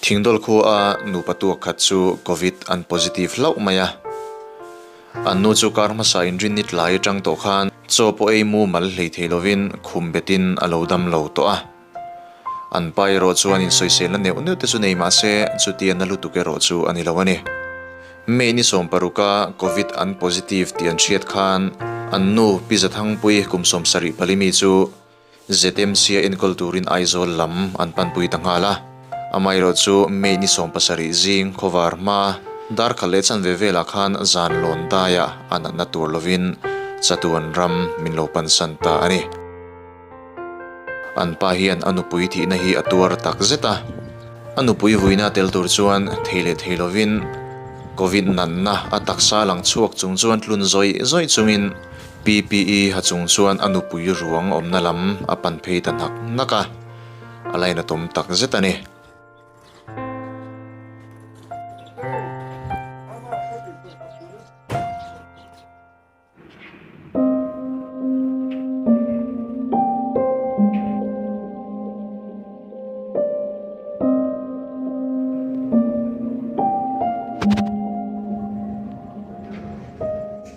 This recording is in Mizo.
Thingdol khua nupa tu khat chu Covid an positive hlauh mai a. An nu chu kar hmasa in rin nit lai atang tawh khan chaw pawh ei mumal hlei thei lovin khum betin a lo dam lo tawh a. An pa erawh chuan insawisel na neuh neuh te chu nei mah se chutia na lutuk erawh chu a ni lo a ni. May ni sawm paruka Covid an positive tih an hriat khan an nu Pi Zathangpuii kum sawm sarih pali mi chu, ZMCA enkawl turin Aizawl lam an panpui ta nghal a, amaherawh chu May ni sawm pasarih zing khawvar hma darkhalh leh chhan ve velah khan zan lawn daia a natna tur lovin chatuan ram min lo pansan ta a ni. An pa hian a nupui thihna hi a tuar tak zet a, a nupui vuina a tel tur chuan thei leh thei lovin Covid natna a taksa lang chhuak chung chuan tlun zawih zawih chungin PPE ha chung chuan a nupui ruang awmna lam a pan phei ta hnak hnak a, a la in a tum tak zet a ni.